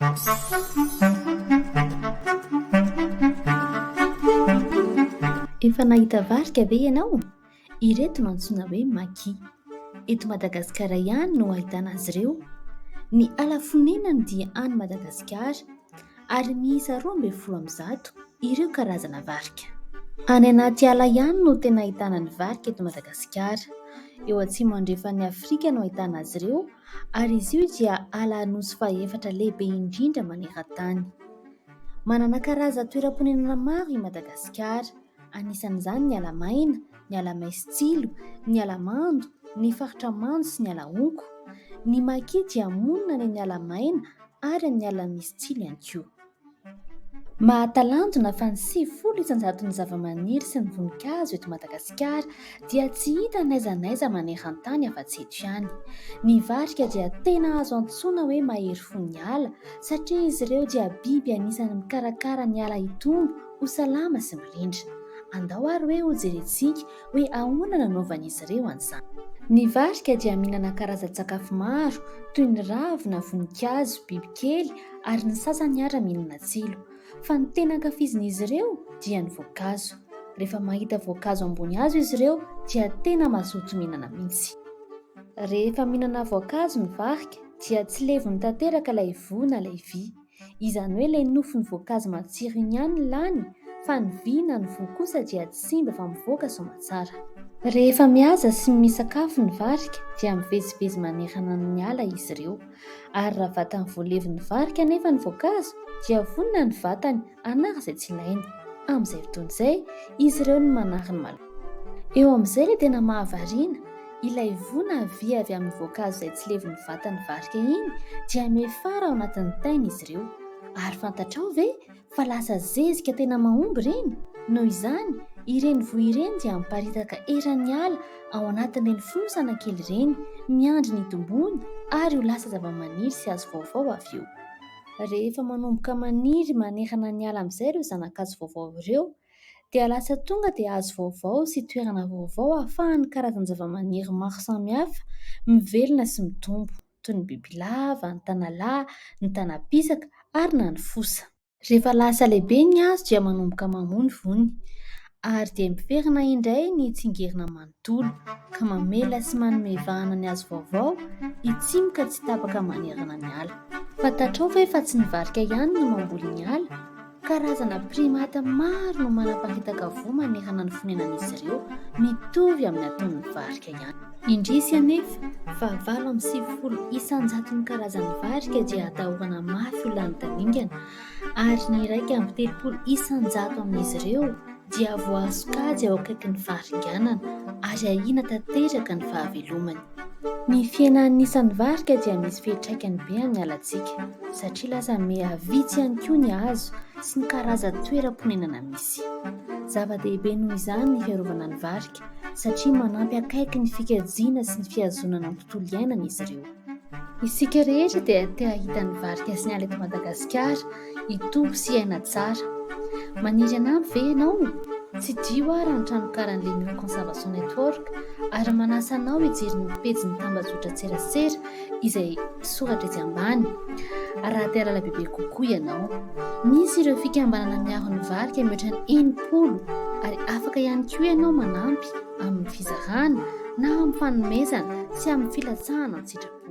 Efa nahita varika ve ianao? Ireto no antsoina hoe Maki. Eto Madagasikara ihany no ahitana azy ireo. Ny ala fonenany dia any Madagasikara ary miisa roa ambin'ny folo amby zato ireo karazana varika. Any anaty ala ihany no tena ahitana ny varika eto Madagasikara. Eo atsimo andrefan'i Afrika no ahitana azy ireo ary izy io dia ala Anosy fahefatra lehibe indrindra maneran-tany. Manana karazan-toeram-ponenana maro i Madagasikara, anisan'izany ny ala maina, ny ala maison-tsilo, ny ala mando, ny faritra mando sy ny ala honko. Ny maki dia monina any amin'ny ala maina ary amin'ny ala misy tsilo ihany koa. Mahatalanjona fa ny sivifolo isan-jaton'ny zavamaniry sy ny voninkazo eto Madagasikara dia tsy hita n'aiza n'aiza maneran-tany afa-tsy eto ihany. Ny varika dia tena azo antsoina hoe mahery fo ny ala satria izy ireo dia biby anisan'ny mikarakara ny ala hitombo ho salama sy mirindra. Andao ary hoe hojerentsika. hoe ahoana nanaovan'izy ireo an'izany. Ny varika dia mihinana karazan-tsakafo maro toy ny ravina, voninkazo, bibikely ary ny sasany ara mihinana tsilo. Fa ny tena ankafizin'izy ireo dia ny voankazo. Rehefa mahita voankazo ambony hazo izy ireo dia tena mazoto mihinana mihitsy. Rehefa mihinana voankazo ny varika dia tsy levony tanteraka ilay voa na ilay vy. Izany hoe ilay nofon'ny voankazo matsiro iny ihany no lany fa ny vy na ny voa kosa dia tsy simba fa mivoaka soma tsara. Rehefa mihaza sy misakafo ny varika dia mivezivezy manerana ny ala izy ireo. Ary raha vatany voalevon'ny varika anefa ny voankazo dia vonona ny vatany hanary izay tsy ilainy. Amin'izay fotoana izay, izy ireo no manary ny malemy. Eo amin'izay ilay tena mahavariana, ilay voa na vy avy amin'ny voankazo izay tsy levon'ny vatan'ny varika iny dia miafara ao anatin'ny tainy izy ireo. Ary fantatrao ve fa lasa zezika tena mahomby ireny? Noho izany, ireny voa ireny dia miparitaka eran'ny ala ao anatin'ireny fonosana kely ireny, miandry ny hitomboany ary ho lasa zavamaniry sy hazo vaovao avy eo. Rehefa manomboka maniry manerana ny ala amin'izay ireo zana-kazo vaovao ireo, dia lasa tonga dia hazo vaovao sy toerana vaovao ahafahan'ny karazan-javamaniry maro samihafa mivelona sy mitombo, toy ny bibilava, ny tanalahy, ny tana-pisaka ary na ny fosa. Rehefa lasa lehibe ny hazo dia manomboka mamoa ny vony ary dia miverina indray ny tsingerina manontolo. dolo ka mamela sy manome vahana ny azo vaovao hitsimoka tsy tapaka manerana ny ala. Fantatrao ve fa tsy ny varika ihany no mamboly ny ala? Karazana primate maro no manapakitaka voa manerana ny fonenan'izy ireo, mitovy amin'ny ataon'ny varika ihany. Indrisy anefa fa valo amby sivifolo isan-jaton'ny karazan'ny varika dia atahorana mafy ho lany tamingana, ary ny iraika amby telopolo isan-jato amin'izy ireo, dia voahazo kajy ao akaikin'ny faharinganana ary ahiana tanteraka ny fahavelomany. Ny fihenan'ny isan'ny varika dia misy fiantraikany be amin'ny alantsika satria lasa miha vitsy ihany koa ny hazo sy ny karazan-toeram-ponenana misy. Zava-dehibe noho izany ny fiarovana ny varika satria manampy akaiky ny fikajiana sy ny fihazonana ny tontolo iainana izy ireo. Isika rehetra dia te hahita ny varika sy ny ala eto Madagasikara hitombo sy hiaina tsara. Maniry hanampy ve ianao? Tsidiho aho raha ny tranokalan'ny Lemieux Conservation Network ary manasa anao hijery ny pejin'ny tambazotran-tserasera izay soratra etsy ambany raha te hahalala bebe kokoa ianao. Misy ireo fikambanana miaro ny varika mihoatra ny enimpolo ary afaka ihany koa ianao manampy. amin'ny fizarana na amin'ny fanomezana sy amin'ny filatsahana an-tsitrapo.